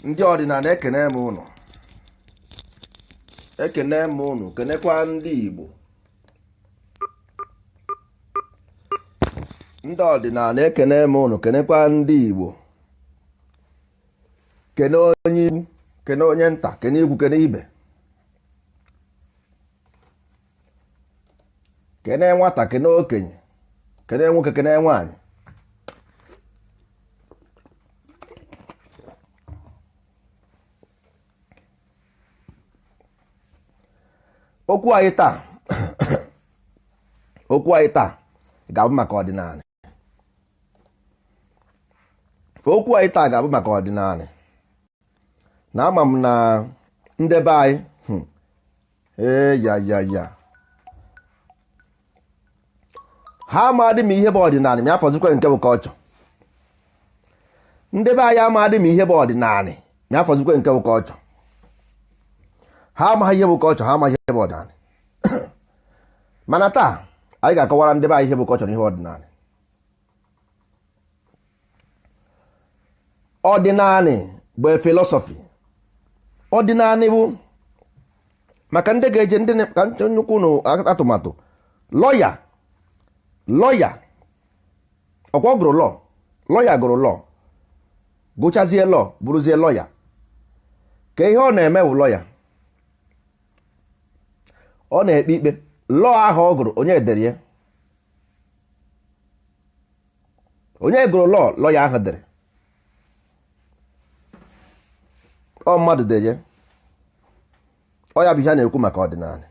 ndị ọdịnanị ekene m ụnụ ekene m ụnụ kenekwa ndị Igbo ndị ọdịnanị ekene m ụnụ kenekwa ndị Igbo kene onye ukwu kene onye nta kene ikwu kene ibe kene nwata kene okenye kene nwoke kene nwaanyị okwu anyị taa okwu anyị taa ga-abụ maka ọdịnanị okwu anyị taa ga-abụ maka ọdịnanị na ama m na ndị be anyị hmm, ee ya ya ya ha amadị m ihe bụ ọdịnanị ma ya fọzikwa nke bụ culture ndị be anyị amadị m ihe bụ ọdịnanị ma ya fọzikwa nke bụ culture ha amaghị ihe bụ culture ha amaghị ihe bụ ọdịnanị mana taa anyị ga-akọwara ndị be anyị ihe bụ culture na ihe ọdịnanị ọdịnanị bụ philosophy ọdịnanị bụ maka ndị ga-eje ndị ka nnukwu na atụmatụ lawyer lawyer ọ kwa ọ gụrụ law lawyer gụrụ law gụchazie law bụrụzie lawyer ka ihe ọ na-eme bụ lawyer ọ na-ekpe ikpe law ahụ ọ gụrụ onye dere ya onye gụrụ law lawyer ahụ dere ọ mmadụ dere ya ọ ya bụ ihe a na-ekwu maka ọdịnanị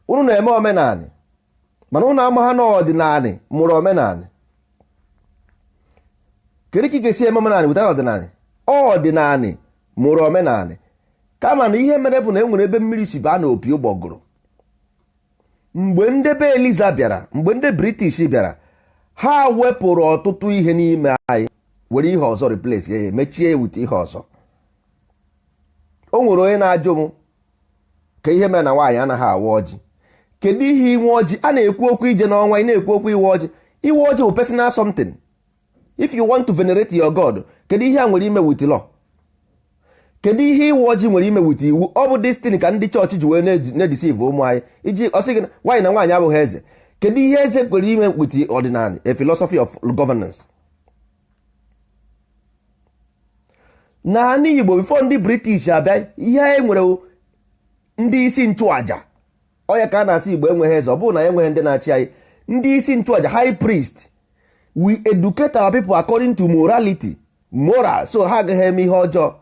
unu na-eme omenanị mana ụnụ amaha na ọdịnanị mụrụ omenanị kedu ka ị ga-esi eme omenanị without ọdịnanị ọdịnanị mụrụ omenanị kama na ihe mere bụ na e nwere ebe mmiri si baa n'opi ụgbọgụrụ mgbe ndị be eliza bịara mgbe ndị british bịara ha wepụrụ ọtụtụ ihe n'ime anyị were ihe ọzọ replace ya mechie with ihe ọzọ o nwere onye na-ajụ m ka ihe mere na nwaanyị anaghị awa ọjị kedu ihe ịwa ọjị a na-ekwu okwu ije n'ọnwa ị na-ekwu okwu ịwa ọjị ịwa ọjị bụ personal something if you want to venerate your god kedu ihe o nwere ime with law kedu ihe ịwa ọjị nwere ime with iwu ọ bụ this thing ka ndị church ji wee na-edeceive ụmụ nwaanyị iji ọ sị gị nwaanyị na nwaanyị abụghị eze kedu ihe eze nwere ime with ọdịnanị a philosophy of governance n'ala igbo before ndị british abịa ihe anyị nwere ndị isi nchụaja ọ ya ka a na-asị igbo enweghị eze ọ bụghị na anyị enweghị ndị na-achị anyị ndị isi nchụaja high priest we educate our people according to morality moral so ha agaghị eme ihe ọjọọ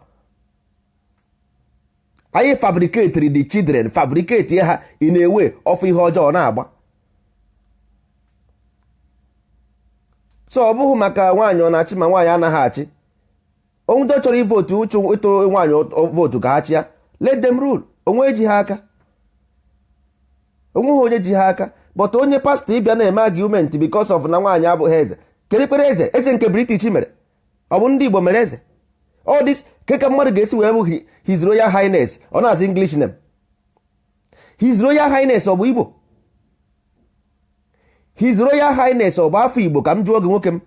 anyị fabricatiri the children fabricate ha in a way ọ fụ ihe ọjọọ ọ na-agba so ọ bụghị maka nwaanyị ọ na-achị ma nwaanyị anaghị achị o nwee ndị chọrọ ivotu ịtụ ịtụ nwaanyị vootu ka ha chịa let them rule onye ji ha aka onweghị onye ji ha aka but onye pastor bịa na-eme argument because of na nwaanyị abụghị eze kedu kpere eze eze nke british mere ọ bụ ndị igbo mere eze all this kee ka mmadụ ga-esi wee bụ his royal highness ọ na-aza english name His Royal Highness ọ bụ Igbo His Royal Highness ọ bụ afa Igbo ka m jụọ gị nwoke m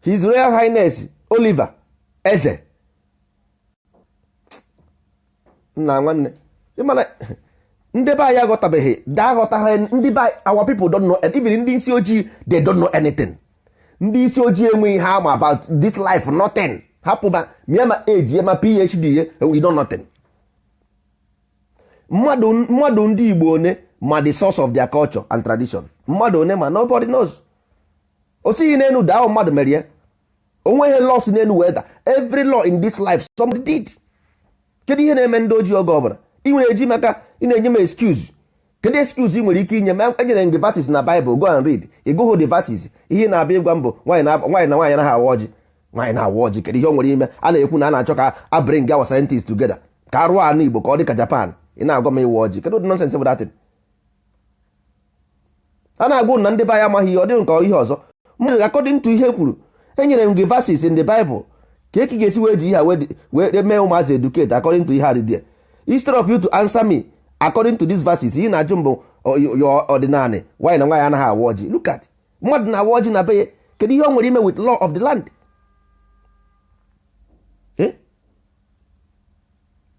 His Royal Highness Oliver Eze nna nwanne ị ma na ndị be anyị aghọtabeghị daa aghọta ha ndị be our people don't know even ndị isi ojii they don't know anything ndị isi ojii enweghị ihe ha ma about this life nothing hapụ ma mịa ma eji ma phd ye we know nothing mmadụ ndị igbo one ma the source of their culture and tradition mmadụ one ma nobody knows o sighi n'enu daa ọ wụ mmadụ mere ya onweghị law si n'enu wee daa every law in this life somebody did kedu ihe na-eme ndị ojii oge ọbụla ị nwere eji maka ị na-enye m excuse kedu excuse ị nwere ike inye m enyere gị verses na Bible go and read ị gụghụ the verses ihe ị na-abịa ịgwa m bụ nwaanyị na nwaanyị anaghị awa ọjị nwaanyị na-awa ọjị kedu ihe o nwere ime a na-ekwu na a na-achọ ka a bring our scientists together ka a rụọ anị Igbo ka ọ dị ka Japan ị na-agwa m ịwa ọjị kedu ụdị nonsense bụ that thing a na-agwa unu na ndị be anyị amaghị ihe ọ dịghị nke ihe ọzọ mmadụ according to ihe i kwuru enyere m gị verses in the Bible kee ka ị ga-esi wee ji ihe wee mee ụmụazị educate according to ihe a dị there instead of you to answer me according to these verses ihe ị na-ajụ m bụ ọdịnala nwaanyị na nwaanyị anaghị awa ọjị look at mmadụ na-awa ọjị na be ya kedu ihe ọ nwere ime with law of the land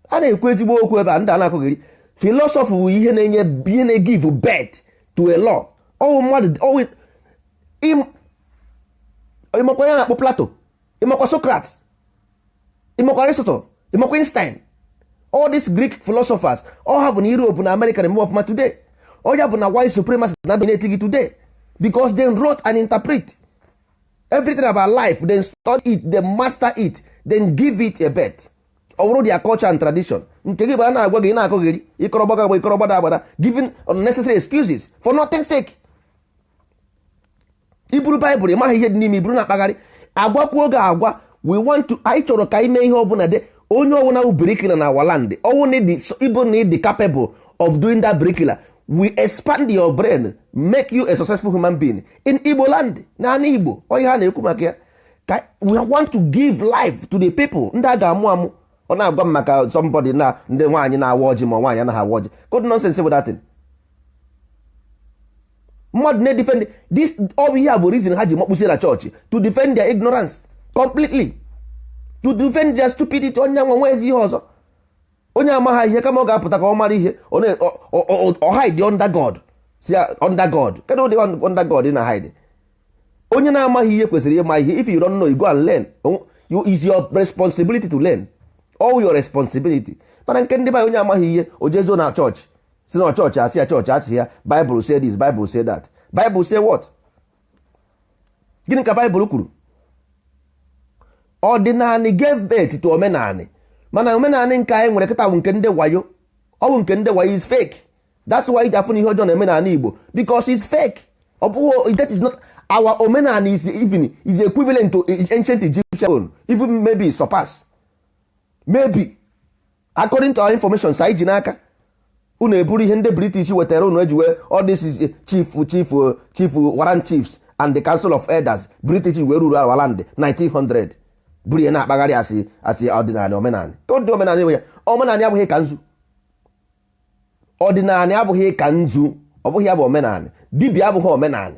a na-ekwu ezigbo okwu ebe a ndị a na-akọgheri philosophy bụ ihe na-enye ihe na-egive birth to a law ọ wụ mmadụ ọ wụ ị makwa onye a na-akpọ Plato ị makwa Socrates ị makwa Aristotle ị makwa Einstein all these Greek philosophers ọ ha bụ na Europe na America na-eme ọfụma today ọ ya bụ na white supremacy na-edominate gị today because they wrote and interpret everything about life then study it then master it then give it a birth ọ bụrụ their culture and tradition nke gị bụ a na-agwa gị na-akọgheri ị kọrọ gbago agbago ị kọrọ gbada agbada giving unnecessary excuses for nothing sake i buru baịbụl ị maghị ihe dị n'ime i buru na-akpagharị a gwakwuo gị agwa we want to anyị chọrọ ka anyị mee ihe ọbụla dị onye ọwụna wụ bricklayer na our land ọ wụ na ị bụ na ị dị capable of doing that bricklayer will expand your brain make you a successful human being in igbo land n'anị igbo ọ ihe a na-ekwu maka ya we want to give life to the people ndị a ga-amụ amụ ọ na-agwa m maka somebody na ndị nwaanyị na-awa ọjị ma nwaanyị anaghị awa ọjị god nonsense with that thing. mmadụ na-edefend this ọ bụ ihe a bụ reason ha ji makpusi na chọọchị to defend their ignorance completely to defend their stupidity onye nwe nwezi ihe ọzọ onye amaghị ihe kama ọ ga-apụta ka ọ mara ihe ọ hide under God sị under God kedụ ụdị under God na hide onye na-amaghị ihe kwesịrị ịma ihe if you don't know you go and learn is your responsibility to learn all your responsibility mana nke ndị be onye amaghị ihe o je zoo na chọọchị sị na chọọchị asị ya chọọchị asị ya Bible say this Bible say that Bible say what gịnị ka baịbụl kwuru ọdịnanị gave birth to omenanị mana omenanị nke anyị nwere kịta bụ nke ndị wayo ọ bụ nke ndị wayo is fake that's why i ji afụ na ihe ọjọọ na omenanị igbo because is fake ọ bụghị that is not our omenanị is even is equivalent to ancient Egyptian even maybe surpass maybe according to our informations anyị ji n'aka unu eburu ihe ndị british wetara unu ejiwe all these chief chief chief warrant chiefs and the council of elders british wee rule our land 1900 buru ya na-akpagharị asị asị ọdịnanị omenanị kee ụdị omenanị enwe ya omenanị abụghị ịka nzu ọdịnanị abụghị ịka nzu ọ bụghị ya bụ omenanị dibịa abụghị omenanị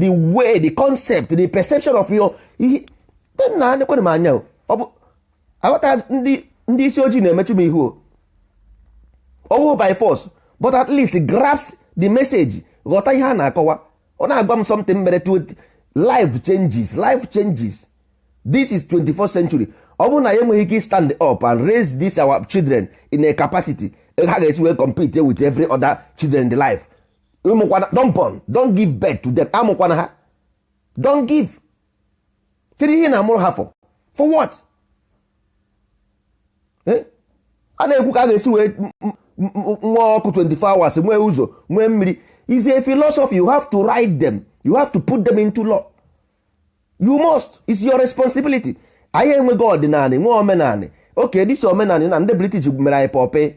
the way the concept the perception of your ihe na adịkwana m anya ọ bụ aghọta ndị ndị isi ojii na-emechu m ihu ọ wụ by force but at least grasp the message ghọta ihe a na-akọwa ọ na-agwa m something mere life changes life changes this is 21st century ọ bụrụ na anyị enweghị ike stand up and raise this our children in a capacity ha ga-esi wee compete with every other children in the life amụkwana don't born don't give birth to them amụkwana ha don't give kedu ihe ị na-amụrụ ha for for what eh? a na-ekwu ka a ga-esi wee nwee ọkụ 24 hours nwee ụzọ nwee mmiri is a philosophy you have to write them you have to put them into law you must it's your responsibility anyị enweghị ọdịnala nwe omenala okay this omenala na ndị british mere anyị pọpị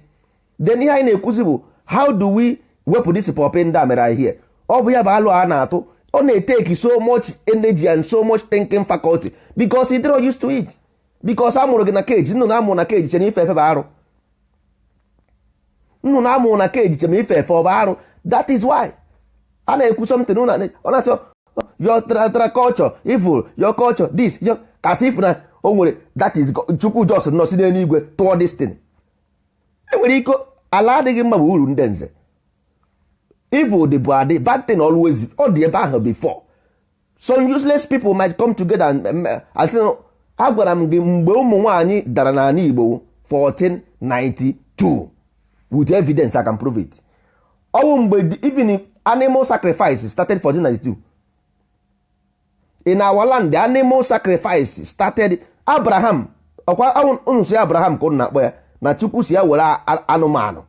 then ihe anyị na-ekwuzi bụ how do we wepụ this pọpị ndị a mere anyị here ọ bụ ya bụ alụ a na-atụ ọ na-eteki so much energy and so much thinking faculty because ị dịrọ used to it because a mụrụ gị na cage nnụnụ a mụrụ na cage che na ife efe bụ arụ nnụnụ a mụrụ na cage che na ife efe ọ bụ arụ that is why a na-ekwu something ọ na-asị oh, your tra culture evil your culture this your as if na o nwere that is chukwu just nọ si n'eluigwe tụọ this thing enwere ike ala adịghị mma bụ uru ndị nze evil dịbu adị bad thing always ọ dị ebe ahụ before some useless people might come together and um, asị agwara m gị mgbe ụmụ nwaanyị dara n'ala Igbo 1492 with evidence I can prove it ọ wụ mgbe even animal sacrifice started 1492 in our land the animal sacrifice started Abraham ọkwa unu si Abraham ka unu na-akpọ ya na Chukwu si ya were anụmanụ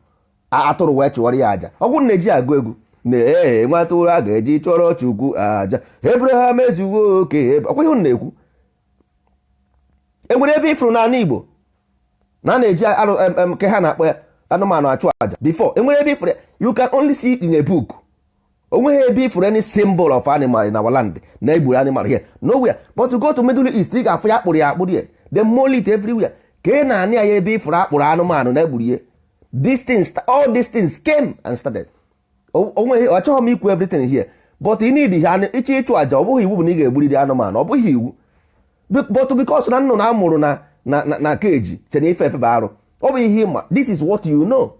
atụrụ wee chụọrọ ya aja ọkwa unu na-eji agụ egwu na ee nwa atụrụ a ga-eji chụọrọ chukwu aja Abraham ezi nwoke ọkwa ihe unu na-ekwu enwere ebe ị fụrụ n'ala Igbo na a na-eji kee ihe a na-akpọ ya anụmanụ achụ aja before enwere ebe ị fụrụ ya you can only see it in a book o nweghị ebe ị fụrụ any symbol of animal in our land na e gburu animal here nowhere but go to middle east ị ga-afụ ya akpụrụ ya akpụrụ ya they mold it everywhere kee n'anị a ebe ị fụrụ a kpụrụ anụmanụ na e gburu ya these things all these things came and started onweghị achọghị m ikwu everything here but ị need ha ị chọọ ịchụ aja ọ bụghị iwu bụ na ị ga-egburiri anụmanụ ọ bụghị iwu but because na nnụnụ a mụrụ na na na cage che na ife efe bụ arụ ọ bụ ihe ị ma this is what you know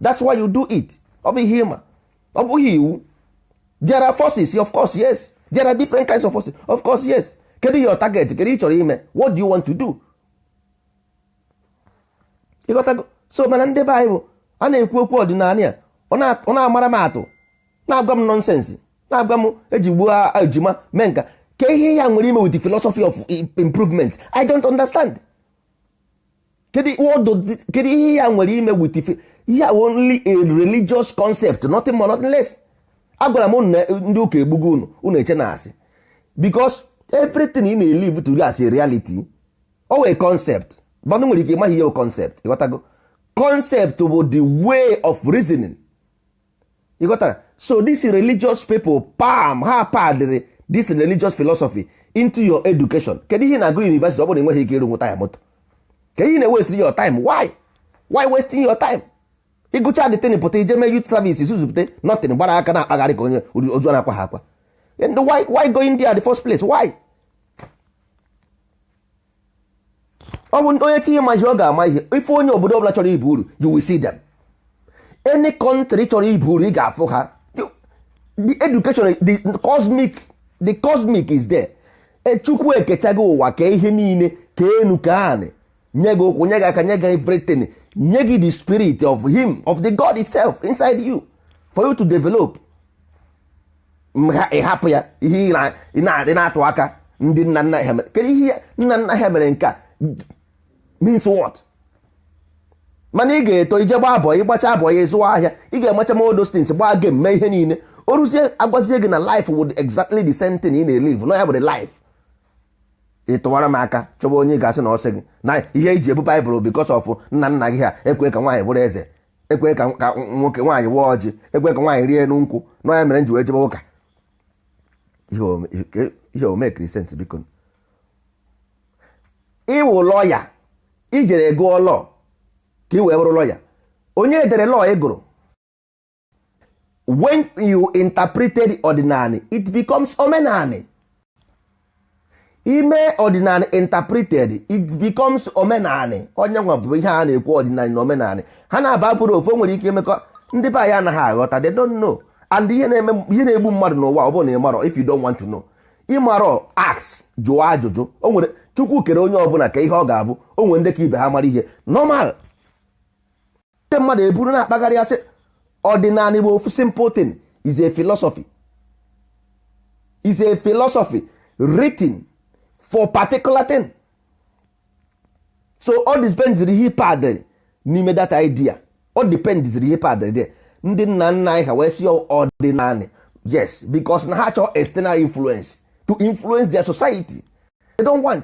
that's why you do it ọ bụ ihe ị ma ọ bụghị iwu there are forces of course yes there are different kinds of forces of course yes kedu your target kedu ị chọrọ ime what do you want to do ịghọtago so mana ndị Bible a na-ekwu okwu ọdịnala ya ọ na-amara m atụ na-agwa m nonsense na-agwa m eji gbuo ejima mee nke a kee ihe ya nwere ime with the philosophy of improvement i don't understand kedu ihe ya nwere ime with ife ihe a only a religious concept nothing more nothing less agwara m na ndị ụka egbugo unu unu eche na asị because everything ị na-elive to you as a reality ọ wụ a concept but unu nwere ike ịmaghị ihe concept ịghọtago concept bụ the way of reasoning ị ghọtara? so this religious people pa ha padịrị this religious philosophy into your education kedu ihe ị na-agụ university ọ bụrụ na i nweghị ike ịrụnwụta ya moto kedu ihe ị na-awaste your time why why wasting your time ị gụchaa the thing pụta i jee mee youth service zuzupụta nothing gbara aka na-akpagharị ka onye ozu na-akwa ha akwa why, why go in there the first place why ọ bụ onye chọọ ịma ihe ọ ga-ama ihe ife onye obodo ọbụla chọrọ ibu uru you will see them any country chọrọ ibu uru ị ga-afụ ha the education the cosmic the cosmic is there e, chukwu ekechago ụwa ka ihe niile ka enu ka anị nye gị ụkwụ nye gị aka nye gị everything nye gị the spirit of him of the god itself inside you for you to develop ị hapụ ya ihe ị na-atụ aka ndị nna nna ha mere kedu ihe nna nna ha mere nke a means what mana ị ga-eto i jee gbaa boy ị gbachaa boy ị zụwa ahịa ị ga-emecha ma all those things gbaa game mee ihe niile o ruzie a gwazie gị na life wụ exactly the same thing ị na-elive na ọ ya bụ the life ị tụwara m aka chọba onye ga-asị na ọ sị gị na ihe i ji ebu Bible because of nna nna gị ha ekwe ka nwaanyị bụrụ eze ekwe ka nwoke nwaanyị waa ọjị ekwe ka nwaanyị rịa enu nkwụ na ya mere m ji wee jebe ụka ihe o mekiri sense biko ị wụ lawyer i jere gụọ law ka ị wee bụrụ lawyer onye dere law ị gụrụ when you interpreted ọdịnani it becomes omenani i mee ọdịnani interpreted it becomes omenani ọ ya nwa bụ ihe a na-ekwu ọdịnani na omenani ha naabọ abụrọ ofu nwere ike imekọ ndị be anyị anaghị aghọta they don't know and ihe na-egbu mmadụ n'ụwa ọ bụrọ na ị marọ if you don't want to know ị marọ ask jụọ ajụjụ o nwere chukwu kere onye ọbụla ka ihe ọ ga-abụ o nwere ndị ka ibe ha mara ihe normal ndị mmadụ eburu na-akpagharị a sị ọdịnani bụ ofu simple thing is a philosophy is a philosophy written for particular thing so ọ dependiri ihe padịrị n'ime that idea ọ dependiziri ihe padịrị there ndị nna nna anyị ha wee sị ọdịnani yes because na ha achọọ external influence to influence their society they don't want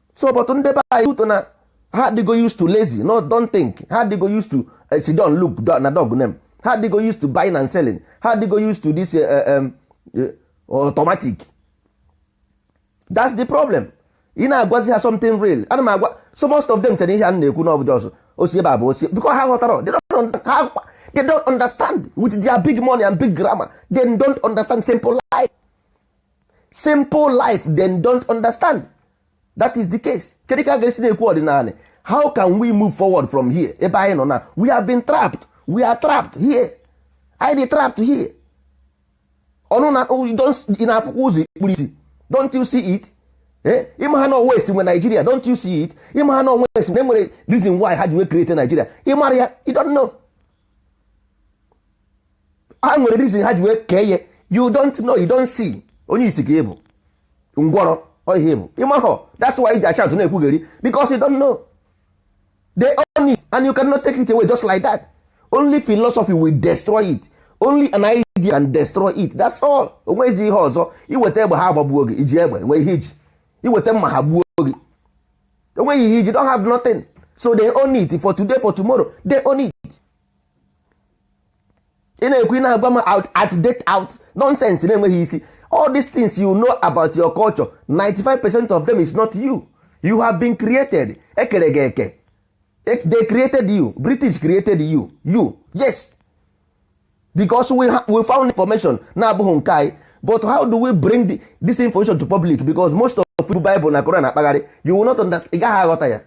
so ụbọtụ ndị be anyị ụtọ na ha adịgo used to lazy no don't think ha adịgo used to eh, sidon look na dog name ha adịgo used to buying and selling ha adịgo used to this eh, eh, automatic that's the problem ị na-agwazi ha something real ana m agwa so most of them chere ihe a na-ekwu na ọbụjọ ọzọ osi ebe a bụ osi because ha aghọtarọ they don't understand with their big money and big grammar they don't understand simple life simple life they don't understand that is the case kedu ka a ga-esi na-ekwu ọdịnala how can we move forward from here ebe anyị nọ na we have been trapped we are trapped here anyị dị trapped here ọnụ na oh, ị na-afụkwa ụzọ i kpuru isi don't you see it eh? ịma ha na west nwe Nigeria don't you see it ịma ha na west na enwere reason why ha ji wee create Nigeria ịmara ya you don't know ha nwere reason ha ji wee kee ya you don't know you don't see onye isi ka ị bụ ngwọrọ ihe bụ ị mahọ that's why i ji achantụ na-ekwugheri because you don't know they own it and you cannot take it away just like that only philosophy will destroy it only an idea can destroy it that's all o nwezi ihe ọzọ i weta egbe ha agbagbuo gị i ji egbe enwe ihe i ji i weta mma ha gbuo gị enweghị ihe iji don't have nothing so they own it for today for tomorrow they own it ị na-ekwu ị na-agwa m out date out nonsense na-enweghị isi all these things you know about your culture 95 percent of them is not you you have been created ekere gị eke e, they created you british created you you yes because we, we found information na-abụghị nke anyị but how do we bring the, this information to public because most of you Bible na Quran akpagharị you will not understand ị gaghị aghọta ya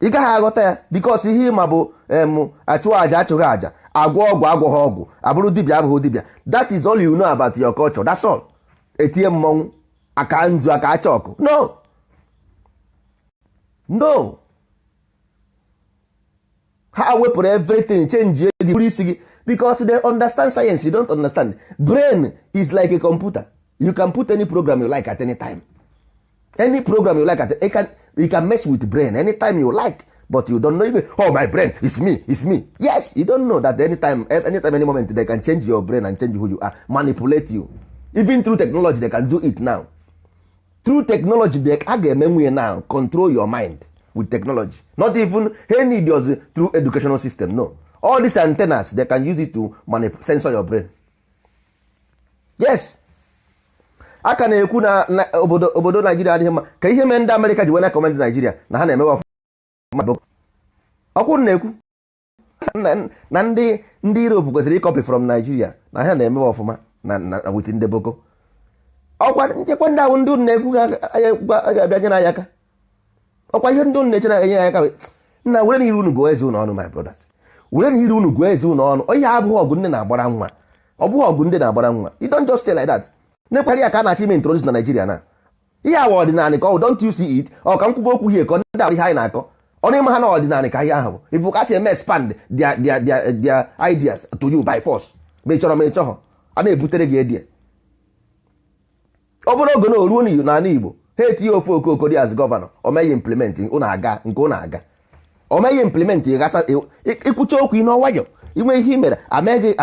ị gaghị aghọta ya because ihe ị ma bụ em achụọ aja achụghị aja agwọ ọgwụ agwọghị ọgwụ abụrụ dibia abụghị dibia that is all you know about your culture that's all etinye mmọnwụ aka nzu aka acha ọkụ no no ha wepụrụ everything change gị bụrụ isi gị because they understand science you don't understand brain is like a computer you can put any program you like at any time any program you like at you can, you can mess with brain anytime you like but you don't know even oh my brain is me is me yes you don't know that anytime anytime any moment they can change your brain and change who you are manipulate you even through technology they can do it now through technology dị a ga-emenwu ihe na-control your mind with technology not even ha need us through educational system no all these antennas they can use it to censor your brain yes a ka na-ekwu na obodo obodo naijiria adịghị mma kee ihe mee ndị amerịka ji wee na-akọmendị naijiria na ha na-emewe ọfụma ọ kwụrụ na-ekwu na ndị ndị Europe kwesịrị ịkọpị from Nigeria na ha na-eme ọfụma na with ndị boko ọkwa nchekwa ndị ahụ ndị unu na-ekwu ha ga-abịa nyere anyị aka ọkwa ihe ndị unu na-echere enye anyị aka nna werenụ ire unu gụọ eze unu ọnụ my brothers werenụ ire unu gụọ eze unu ọnụ ihe a abụghị ọgụ ndị na-agbara nwa ọ bụghị ọgụ ndị na-agbara nwa you don't just stay like that nekwa sharia ka a na-achọ ime introduce na Nigeria na ihe a wụ ọdịnala ka ọ don't you see it ọ ka nkwuba okwu hie ka ndị ahụ ihe anyị na-akọ ọnụ ịma ha na ọdịnala ka ihe ahụ bụ ị fụ ka ha si eme expand their their their ideas to you by force ma ị chọrọ ma ị chọghọ a na-ebutere gị idea ọ bụrụ oge na o ruo n'iyu n'ala Igbo ha etinye ofe okoko dị as gọvanọ o meghị implement ụnụ aga nke ụnụ aga o meghị implement highest ị kwuchaa okwu ị nọ nwayọ inwe ihe i mere ameghị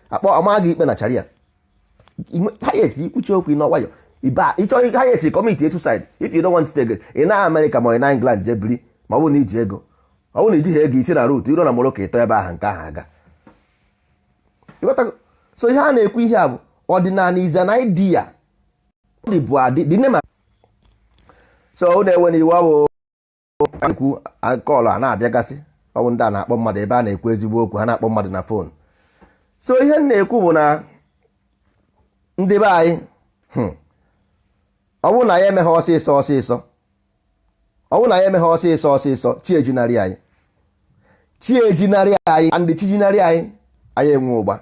akpọ a ma gị ikpe na sharia highest ị kwuchaa okwu ị nọ nwayọ ibe a ịchọghị highest ị commit suicide if you don't want to again ị na amerịka ma ị na england jee biri ma ọ bụrụ na i ji ego ọ bụrụ na i jighị ego i si na rut i ruo na moroko ị tọ ebe ahụ nke ahụ aga so ihe a na-ekwu ihe a bụ ọdịnala is an idea ọ dịbu adị dị nema so ọ na-ewe m iwe ọ bụ okwu call a na-abịagasị ọ bụ ndị a na-akpọ mmadụ ebe a na-ekwu ezigbo okwu ha na-akpọ mmadụ na phone so ihe m na-ekwu bụ na ndị be anyị hmm, ọ bụrụ na anyị emeghị ọsịsọ ọsịsọ ọ bụrụ na anyị emeghị ọsịsọ ọsịsọ chi ejinarị anyị chi ejinarị anyị and chi jinarị anyị anyị enwe ụgba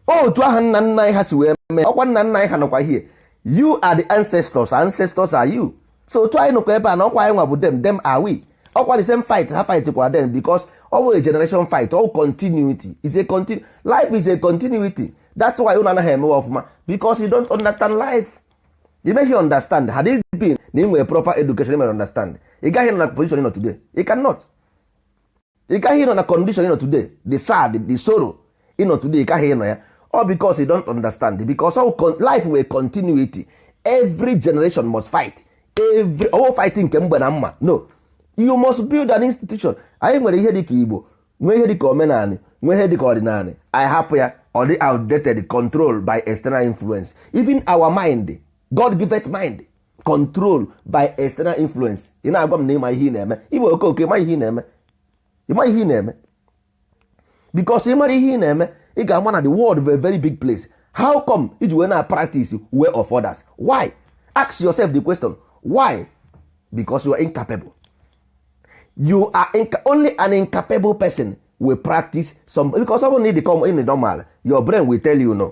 otu ahụ nna nna anyị ha si wee mee ọkwa nna nna anyị ha nọkwa here you are the ancestors ancestors are you so otu anyị nọkwa ebe a na ọkwa anyị nwa bụ them them are we ọkwa the same fight ha fight kwa them because ọ bụ a generation fight all continuity is a continu life is a continuity that's why unu anaghị emewe ọfụma because you don't understand life you make you understand had it been na ị nwere proper education you may understand ị gaghị nọ na position ị nọ today you cannot ị gaghị ịnọ na condition ị nọ today the sad the sorrow ị nọ today ị gaghị ịnọ ya all because you don't understand because all life wụ a continuity every generation must fight every owo oh, fighting nke egbe na mma no you must build an institution anyị nwere ihe dịka igbo nwee ihe dịka omenanị nwee ihe dịka ọdịnanị anyị hapụ ya ọ dị outdated control by external influence even our mind God given mind control by external influence ị na-agwa m na ị ma ihe ị na-eme ị bụ okoke ị ma ihe ị na-eme ị ma ihe ị na-eme because ị mara ihe ị na-eme ị ga-ama na the world bụ a very big place how come i ji wee na-practice way of others why ask yourself the question why because you are incapable you are inca only an incapable person will practice some because ọ bụrụ na ị dị normal your brain will tell you no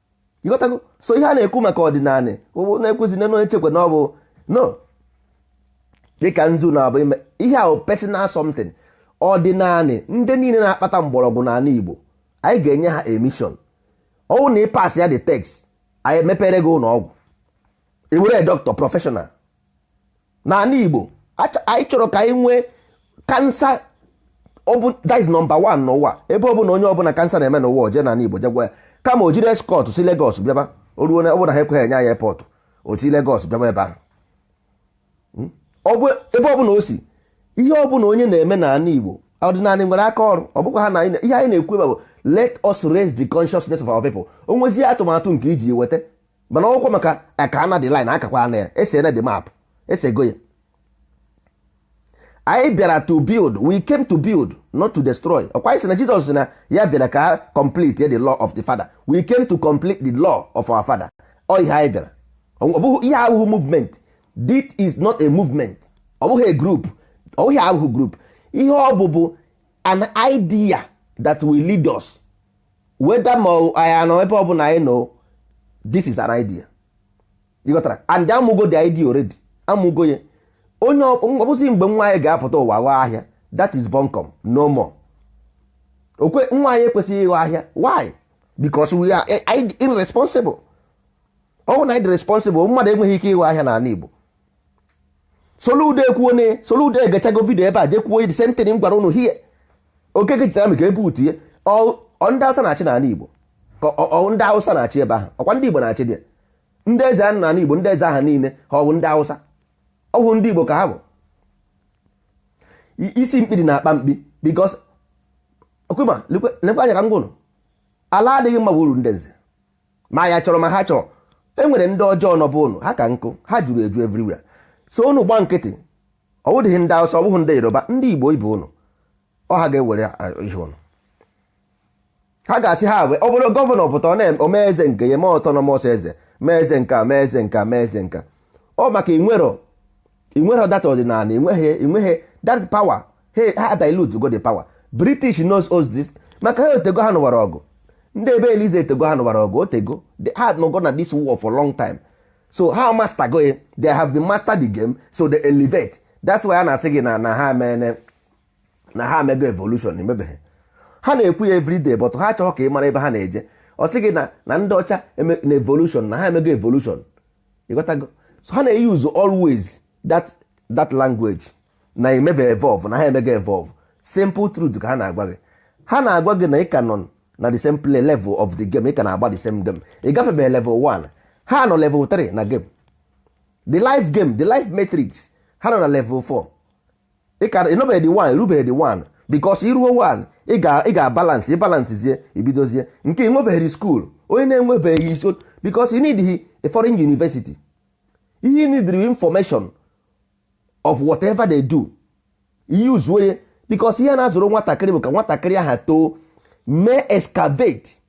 ị ghọtago so ihe a na-ekwu maka ọdịnanị na-ekwuzi na onye echekwa na ọ bụ no ịka nzu na-abụ ime ihe ahụ personal something ọdịnanị ndị niine na-akpata mgbọrọgwụ n'anị Igbo anyị ga-enye ha admission ọ wụ na ị pass ya the test anyị emepere gị ụnọ ọgwụ ị wụrụ doctor professional n'anị Igbo anyị chọrọ ka anyị nwee cancer ọ bụ that is number one n'ụwa ebe ọ bụ na onye ọbụla cancer na-eme n'ụwa o jee n'anị Igbo je gwọọ ya kama o jiri escort si Lagos bịaba ọ bụrụ na ọ bụ na ha ekweghị enye anyị airport o si Lagos bịaba ebe ahụ hmm? ebe ọ bụla o si ihe ọ bụla onye na-eme n'anị Igbo ọdịnanị nwere aka ọrụ ọ bụkwa ha na ihe anyị na-ekwu ebe a bụ let us raise the consciousness of our people o nwezie atụmatụ nke iji weta mana ọkwa maka akaana the line akakwaana ya eseena the map esego ya anyị bịara to build we came to build not to destroy ọkwa anyị si na Jizọs na ya bịara ka complete the law of the father we came to complete the law of our father ọ ihe anyị bịara ọ bụghị ihe ahụhụ movement this is not a movement ọ bụghị a group ọ bụghị ahụhụ group ihe ọ bụ bụ an idea that will lead us whether ma anyị anọ ebe ọ bụla anyị nọ this is an idea ịghọtara and amụgo the idea already amụgo ya onye ọbụzi mgbe nwa anyị ga-apụta ụwa ghọọ ahịa that is bunkum no more okwe nwa anyị ekwesịghị ịghọ ahịa why because we are eh, irresponsible ọ bụ na anyị dị responsible mmadụ enweghị ike ịghọ ahịa n'ala Igbo Soludo ekwuo na Soludo egechago vidio ebe a je kwuo the same thing m gwara unu hie okeke jitara m ka ebe utu ihe ndị Hausa na-achị n'ala Igbo ọ ndị Hausa na-achị ebe ahụ ọkwa ndị Igbo na-achị there ndị eze a n'ala Igbo ndị eze aha niile ha ọ bụ ndị Hausa ọ bụ ndị Igbo ka ha bụ isi mkpi dị n'akpa mkpi because ọkwa ị ma lekwa anya ka m gwa unu ala adịghị mma wụ uru ndị eze ma ya chọrọ ma ha achọrọ enwere ndị ọjọọ nọ be ụnụ ha ka nkụ ha juru eju everywhere so ụnụ gba nkịtị ọ wụdịghị ndị awụsa ọ bụghị ndị yoruba ndị igbo ibe ụnụ ọ ha ga-ewere ihe ụnụ ha ga-asị ha wee ọ bụrụ gọvanọ pụta ọ na-eme eze nke ya ma autonomous eze mee eze nka mee eze nka mee eze nka ọ maka inwero ị nweghị that ọdịnala ị nweghị ị nweghị that power ha dilute go the power british knows all this maka ha otego ha nụwara ọgụ ndị be Eliza otego ha nụwara ọgụ otego ha nọgo na this war for long time so ha master go eh, they have been master the game so they elevate that's why a na-asị gị na na ha mene na ha mego evolution emebeghị ha na-ekwu ya everyday but ha achọghị ka ị mara ebe ha na-eje ọ sị gị na na ndị ọcha na evolution na ha emego evolution ịghọtago so ha na-use always that that language na emebe evolve na ha emego evolve simple truth ka ha na-agwa gị ha na-agwa gị na ị ka nọ na the same play level of the game ị ka na-agba the same game ị gafebeghị level 1 ha nọ level 3 na game the life game the life matrix ha nọ na level 4 ị nọbeghị one i rubeghị one because i ruo one ị ga-abalance ị balancezie i bidozie nke ị nwebeghị school onye na-enwebeghị isi because you need a foreign university you need information of whatever they do use why because ihe na-azụrụ nwatakịrị bụ ka nwatakịrị aha too mee excavate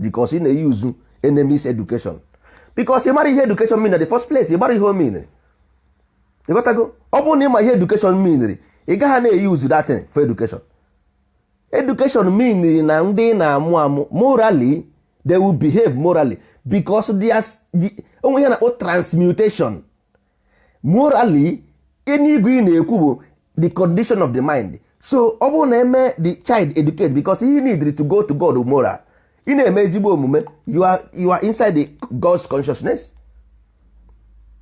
because ị na-use enemy's education because ị mara ihe education mean na the first place ị mara ihe o meanere ịghọtago ọ bụrụ na ị ma ihe education meanere ị gaghị na-use that thing for education education meanere na ndị na-amụ amụ morally they will behave morally because there's o nwe ihe a na-akpọ transmutation morally enigwe ị na-ekwu bụ the condition of the mind so ọ bụrụ na e mee the child educate because he need to go to God moral ị na-eme ezigbo omume you are, you are inside the God's consciousness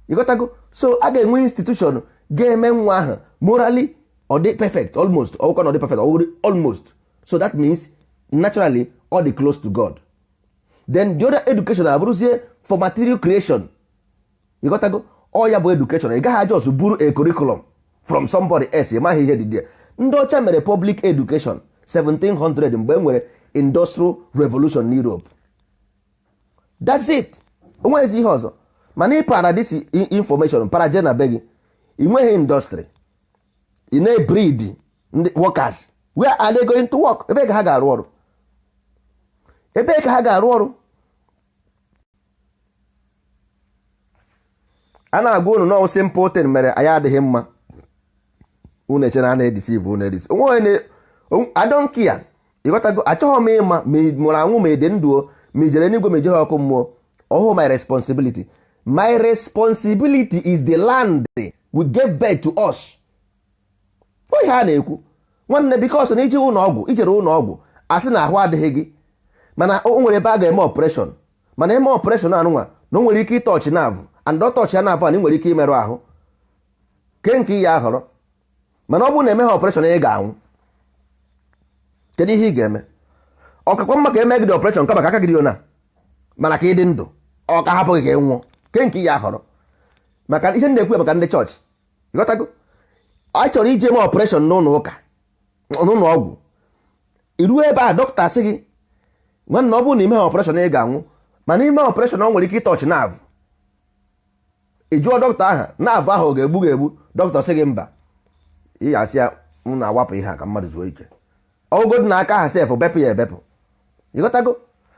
ịghọtago so a ga-enwe institution ga-eme nwa ahụ morally ọ dị perfect almost ọ bụgodu na ọ dịghị perfect ọ wụrụ almost so that means naturally ọ dị close to God then the other education abụrụzie for material creation ịghọtago ọ ya bụ education ị gaghị just buru a curriculum from somebody else ị maghị ihe dị there ndị ọcha mere public education 1700 mgbe e nwere industrial revolution na Europe that's it o nweghịzi ihe ọzọ mana ị para this information paraje na be gị ị nweghị industry ị na-ebreed ndị workers where are they going to work ebe ka ha ga-arụ ọrụ ebe ka ha ga-arụ ọrụ a na-agwa unu nọọ simple thing mere anyị adịghị mma unu eche na a na-edeceive unu deceive onwe unu I don't care ịghọtago achọghị m ịma ma ị nwụrụ anwụ ma ị dị ndụ ma i jere enigwe ma i jere ọkụ mmụọ ọ bụghị my responsibility my responsibility is the land wey gave birth to us ihe a na-ekwu nwanne because na i jee ụlọ ọgwụ i jere ụlọ ọgwụ a sị na ahụ adịghị gị mana o nwere ebe a ga-eme operation mana e mee operation anụnwa na o nwere ike ịtouch nerve and ọ touch ya nerve na ị nwere ike imerụ ahụ ke nke ị ya-ahọrọ mana ọ bụrụ na e meghị operation ị ga-anwụ kedu ihe ị ga-eme ọ kakwa mma ka e mee gị the operation kama ka aka gị dị ona mana ka ị dị ndụ ọ ka a hapụ gị ka ị nwụọ ke nke ị ya-ahọrọ maka ihe a na-ekwu maka ndị chọọchị ịghọtago anyị chọrọ ije mee operation n'ụlọ ụka n'ụlọ ọgwụ i ruo ebe ahụ dọkịta sị gị nwanna ọ bụrụ na e meghị operation ị ga-anwụ mana e mee operation o nwere ike ịtouch nerve ị jụọ dọkịta aha nerve ahụ ọ ga-egbu gị egbu dọkịta sị gị mba ị ga-asị ya nwanna wapụ ihe a ka mmadụ zuo ike ọ bụgodu na aka a sef bepụ ya ebepụ ịghọtago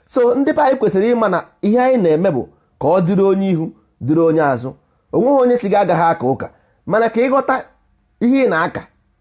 so ndị be anyị kwesịrị ịma na ihe anyị na-eme bụ ka ọ dịrị onye ihu dịrị onye azụ o nweghị onye sị gị agaghị aka ụka mana ka ị ghọta ihe ị na-aka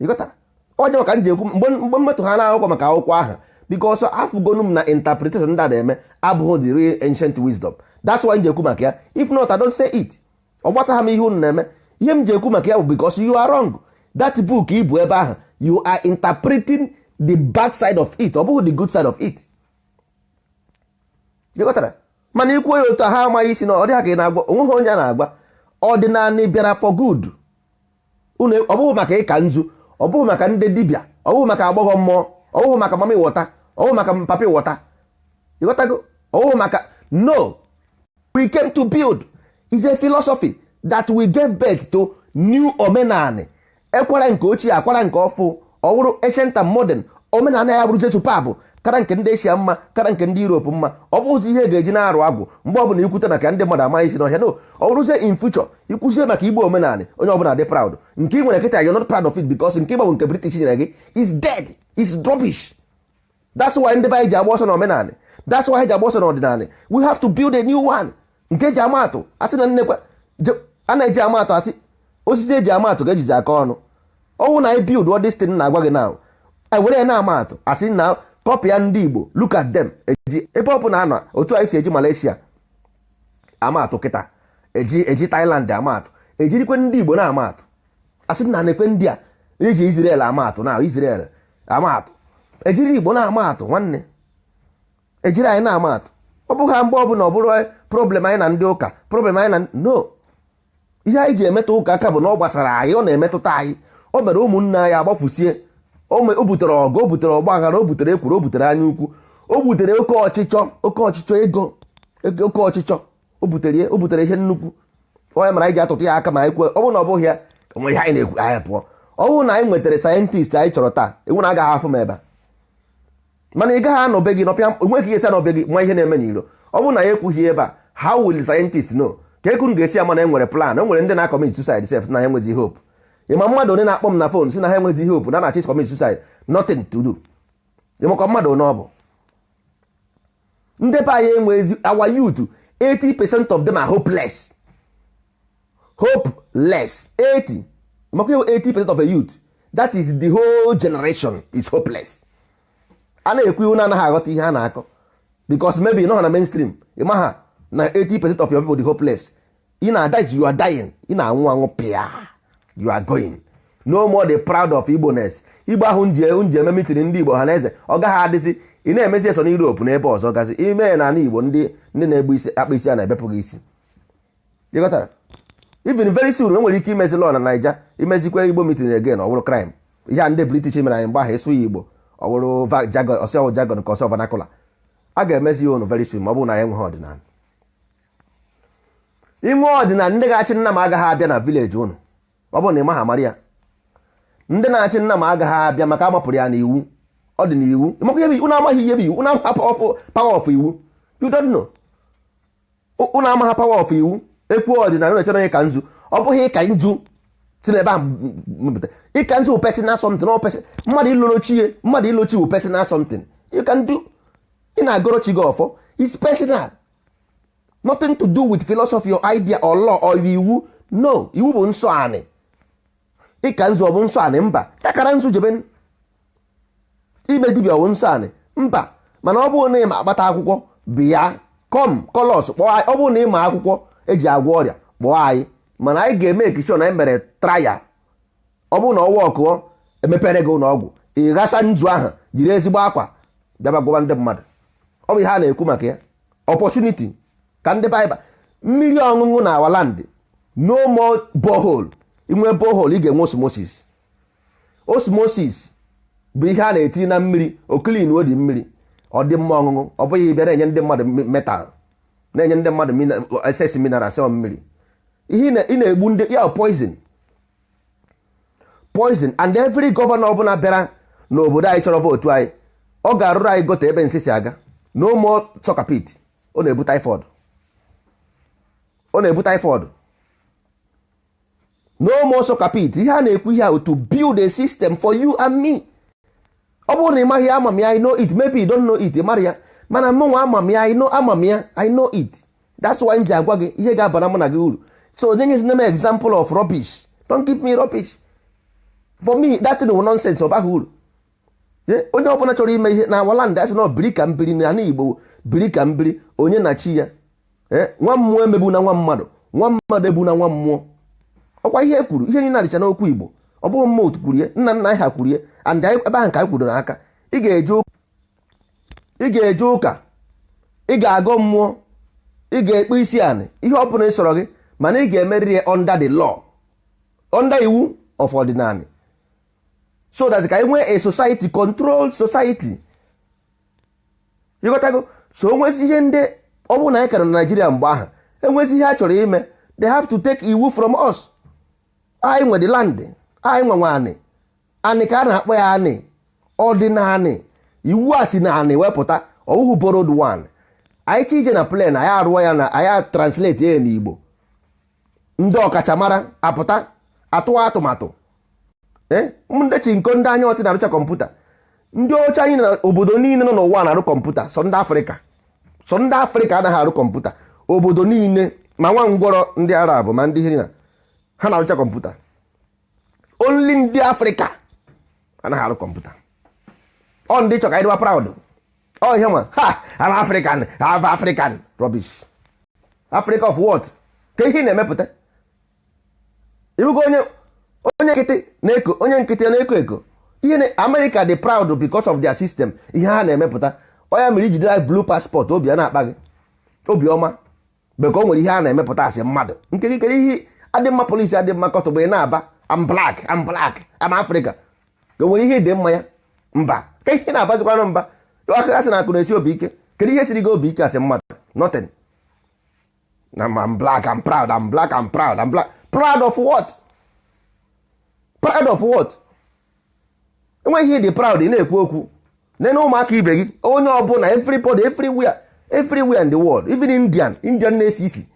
ịghọtara onye maka m ji ekwu mgbe m metụ aka n'akwụkwọ maka akwụkwọ ahụ because afụgonu m na interpretation ndị a na-eme abụghị the real ancient wisdom that's why m ji ekwu maka ya if not I don't say it ọ gbasaghị m ihe unu na-eme ihe m ji ekwu maka ya bụ because you are wrong that book i bu ebe ahụ you are interpreting the bad side of it ọ bụghị the good side of it ịghọtara mana i kwuo ya otu ha amaghị isi na ọ dị ha ka ị na-agwa o nweghị onye a na-agwa ọdịnala bịara for good unu ọ bụghị maka ịka nzu ọ bụghị maka ndị dibịa ọ bụghị maka agbọghọ mmụọ ọ bụghị maka mami wọta ọ bụghị maka papi wọta ịghọtago ọ bụghị maka no we came to build is a philosophy that will give birth to new omenani ekwara nke ochie akwara nke ọfụ ọ wụrụ ancient and modern omenanị ya bụrụzie superb kara nke ndị Asia mma kara nke ndị europe mma ọ bụzi ihe ga-eji na-arụ agwụ mgbe ọbụla ikwute maka ndị mmadụ amaghị isi n'ọhịa no ọ bụrụzie in future ikwuzie maka igbo omenanị onye ọbụla dị proud nke ị nwere kịta you're not proud of it because nke ịgbanwe nke british nyere gị is dead is rubbish that's why ndị be anyị ji agba ọsọ na omenanị that's why ji agba ọsọ na ọdịnanị we have to build a new one nke eji ama atụ asị na nekwa a na-eji ama atụ asị osisi eji ama atụ ga-ejizi aka ọnụ ọ wụ na anyị build all this thing na-agwa gị na anyị were ya na-ama atụ asị na kọpịa ndị Igbo look at them eji ebe ọ bụla anọ otu anyị si eji Malaysia ama atụ kịta eji eji Thailand ama atụ ejirikwa ndị Igbo na-ama atụ asị na nekwe ndị a eji Israel ama atụ na Israel ama atụ ejiri Igbo na-ama atụ nwanne ejiri anyị na-ama atụ ọ bụghị ha mgbe ọbụla ọ bụrụ problem anyị na ndị ụka problem anyị na no ihe anyị ji emetụ ụka aka bụ na ọ gbasara anyị ọ na-emetụta anyị o mere ụmụnne anyị agbafusie o butere ọgụ o butere ọgba aghara o butere ekworo o butere anya ukwu o butere oke ọchịchọ oke ọchịchọ ego oke ọchịchọ o butere ihe o butere ihe nnukwu ọ ya mere anyị ji arụtụ ya aka ma anyị kwuo ọ bụrụ na ọ bụghị ya o nwe ihe anyị na-ekwu anyị pụọ ọ bụrụ na anyị nwetara scientist anyị chọrọ taa unu agaghị afụ m ebe a mana ị gaghị anọ be gị nọpịa onweghị ka ị ga-esi anọ be gị ma ihe na-eme n'iro ọ bụrụ na anyị ekwughị ebe a how will scientist know kee ka unu ga-esi ama na e nwere plan e nwere ndị na-commit suicide sef na ha enweghị hope ịma mmadụ one na-akpọ m na phone si na ha enweghị hope na na-achọ ị commit suicide nothing to do ịmakọ mmadụ one ọ bụ ndị be anyị enwezi our youth 80 percent of them are hopeless hopeless 80 ịmakọ 80 percent of a youth that is the whole generation is hopeless a na-ekwu unu anaghị aghọta ihe a na-akọ because maybe ị nọha na mainstream ịmaha na 80 percent of your people dị hopeless ị na-ada is you are dying ị na-anwụ anwụ pịa you are going no more the proud of Igbo-ness igbo ahụ eji eji eme meeting ndị igbo ha na eze ọ gaghị adịzi ị na-emezi ya sọ n'Europe n'ebe ọzọ gazi ime na ala igbo ndị ndị na-egbu isi akpa isi a na-ebepụ gị isi ịghọtara even very soon enwere ike imezi law na naija imezikwa igbo meeting again ọ bụrụ crime ihe ndị british mere anyị mgbe ahụ ị sụa igbo ọ bụrụ ọ sị ọ wụ jargon ka ọ sị ọ vernacular a ga-emezi ya unu very soon ma ọ bụrụ na anyị enweghị ọdịnala i nwe ọdịnala ndị ga-achị nama agaghị abịa na village ụnụ ọ bụrụ na ị maha mara ya ndị na-achị nama agaghị abịa maka a mapụrụ ya n'iwu ọ dị n'iwu ị makwa ihe ụnụ amaghị ihe bụ iwu ụnụ amaghị power of iwu you don't know ụnụ amaghị power of iwu e kwu ọdịnala na echere ịka nzu ọ bụghị ịka nzu si n'ebe ahụ mepụta ịka nzu personal something na ọ personal mmadụ ịlụrụ chi ihe mmadụ ịlụ chi wụ personal something you can do ị na-agọrọ chi gị ọfọ is personal nothing to do with philosophy or idea or law or iwu no iwu bụ nsọ anị ịka nzu ọ bụ nsọ anị mba takara nzu jebe ime dibia ọ bụ nsọ anị mba mana ọ bụrụ na ị ma akpata akwụkwọ bịa come call us kpọọ anyị ọ bụrụ na ị ma akwụkwọ e ji agwọ ọrịa kpọọ anyị mana anyị ga-eme action anyị mere trial ọ bụrụ na ọ workụọ e mepere gị ụlọ ọgwụ ị ghasa nzu ahụ jiri ezigbo akwa bịaba gwọba ndị mmadụ ọ bụ ihe a na-ekwu maka ya opportunity ka ndị baiba mmiri ọṅụṅụ na our land no more borehole i nwe borehole ị ga-enwe osmosis osmosis bụ ihe a na-etinye na mmiri ọ cleanuo the mmiri ọ dị mma ọṅụṅụ ọ bụghị ịbịa na-enye ndị mmadụ metal na-enye ndị mmadụ excess minerals sị ọ mmiri ihe ị na-egbu ndị ya poison poison and every gọvanọ ọbụla bịara n'obodo anyị chọrọ vootu anyị ọ ga-arụrụ anyị gutter ebe nsị si aga no more soak pit ọ na-ebu typhoid ọ na-ebu typhoid no more soak pit ihe a na-ekwu ihe a to build a system for you and me ọ bụrụ na ị maghị ama m ya I know it maybe you don't know it ị marọ ya mana mụ nwa ama m ya I know ama m ya I know it that's why m ji agwa gị ihe ga-abara mụ na gị uru so onye enyezina m example of rubbish don't give me rubbish for me that thing nonsense ọ baghị uru onye ọbụla chọrọ ime ihe na our land a sị na biri ka m biri na ana igbo biri ka m biri onye na chi ya nwa mmụọ emegbuna nwa mmadụ nwa mmadụ egbuna nwa mmụọ ọ kwa ihe e kwuru ihe niile a dịcha n'okwu igbo ọ bụghị mmadụ kwurie nna nna anyị ha kwurie and ebe ahụ ka anyị kwụrụ n'aka ị ga-eje ụka ị ga-agọ mmụọ ị ga-akpọ isi anị ihe ọ bụla ị sọrọ gị mana ị ga-emerịrị ya under the law under iwu of ọdịnanị so that ka anyị nwee a society controlled society ị ghọtago so o nwezi ihe ndị ọ bụrụ na anyị kara na Naịjirịa mgbe ahụ e nwezi ihe a chọrọ ime they have to take iwu from us anyị nwe the land anyị nwa nwe anị anị ka a na-akpọ ya anị ọdịnanị iwu a si na anị wepụta ọ wụhụ borrowed one anyị chi ije na plan anyị arụọ ya na anyị translate ya n'Igbo ndị ọkachamara apụta atụwa atụmatụ eh? ndị chinko ndị anya ọtị na-arụcha kọmputa ndị ọcha anyị na obodo niile nọ n'ụwa na-arụ kọmputa sọ ndị afrịka sọ ndị afrịka anaghị arụ kọmputa obodo niile ma nwa ngwọrọ ndị arab ma ndị iran ha na-arụcha kọmputa only ndị afrịka anaghị arụ kọmputa ọ ndị chọ ka anyị dịwa proud ọ ihe ma ha am african am african rubbish africa of what kee ihe na-emepụta ị bụgo onye onye nkịtị na-eko onye nkịtị na-eko eko ihe na amerịka dị proud because of their system ihe ha na-emepụta ọ ya mere i jide blue passport obi a na-akpa gị obiọma maka o nwere ihe a na-emepụta asị mmadụ nkirikiri ihe adị mma polisi adị mma kọtụ bụ ị na-aba am black am black am africa o nwere ihe dị mma ya mba kee ihe na-abazikwanụ mba maka a sị na akụ na-esi obi ike kedu ihe siri gị obi ike asị mmadụ nothing na am black am proud am black am proud am black proud of what proud of what enweghị ihe dị proud na-ekwu okwu nene ụmụaka ibe gị onye ọbụla everybody everywhere everywhere in the world even indian indian na-esi isi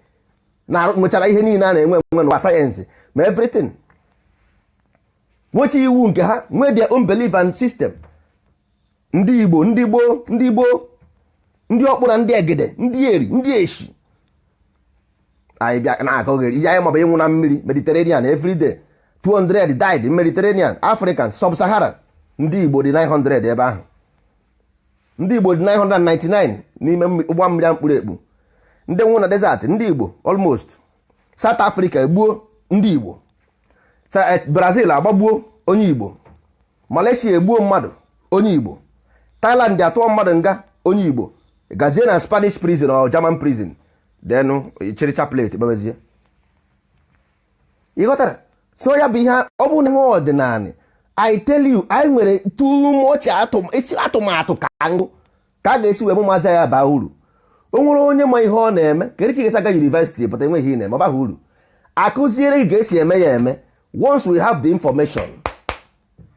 na nwechara ihe niile a na-enwe enwe n'ụwa sayensị ma everything nwecha iwu nke ha nwee their own belief and system ndị igbo ndị gboo ndị gboo ndị ọkpụ na ndị egede ndị eri ndị eshi anyị bịa na-akọgheri ihe anyị ma bụ ịnwụ na mmiri mediterranean everyday 200 died in mediterranean african sub-saharan ndị igbo dị 900 ebe ahụ ndị igbo dị 999 n'ime ụgbọ mmiri a kpuru ekpu ndị nwụ na desert ndị igbo almost south africa egbuo ndị igbo eh, brazil agbagbuo onye igbo Malaysia egbuo mmadụ onye Igbo Thailand atụọ mmadụ nga onye Igbo gazie na Spanish prison or German prison then ị chịrịcha plate gbabezie ị ghọtara so ya bụ ihe ọ bụrụ na nwe ọdịnala I tell you anyị nwere too much atụmatụ ka ngụ ka a ga-esi wee mụmazị ya baa uru o nwere onye ma ihe ọ na-eme kedu ka ị ga-esi aga yunivesiti pụta enweghị ihe na-eme ọ baghị uru akụziere gị ka e si eme ya eme once we have the information